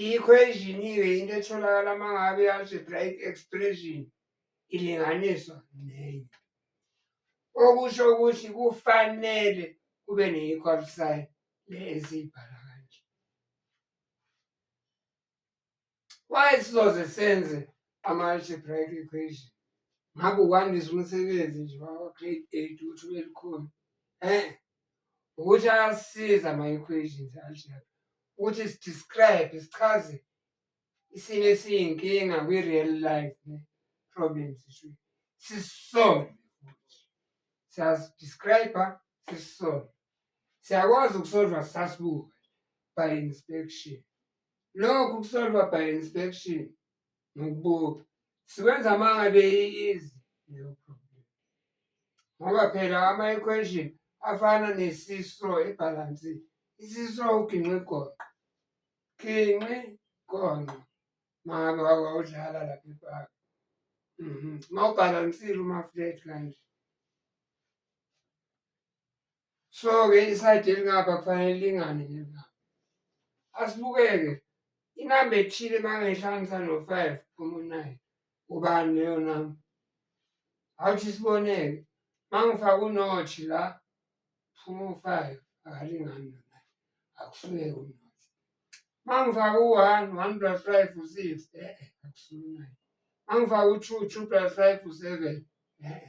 I-equation-ke into etholakala uma ngabe i-algebraic expression ilinganiswa nenye okusho ukuthi kufanele kube ne-equal sign le esiyibhala kanje why sizoze senze ama-algebraic equation ngabe ukwandisa umsebenzi nje wakwa-grade eight ukuthi ube lukhona um ukuthi ayasiza ama-equations algebra ukuthi sidescribe sichaze isimo esiyinkinga kwi-real life ne problems sisolve futhi siyazidescribe sisolve siyakwazi ukusolva sasibuka by inspection lokhu kusolva by inspection Ngikubuke. Siwenza uma ngabe i-easy leyo problem. Ngoba phela ama-equation afana nesiso ebhalansi. Isiso uginqe igoqo. Ginqe igonqo. Mama wawudlala lapha ebhaka. Uma ubhalansile uma-flat kanje. so-ke isayidi elingapha kufanele lingane nelingapha asibukeke inamba ethile uma ngehlanganisa no-five phuma u-nine ubani leyo namba awuthi siboneke uma ngifake unothi la phuma u-five akalingani nona akufuneki unothi uma ngifake u-one one plus five u-six e-e akusuke u-nine uma ngifake u-two two plus five u-seven e-e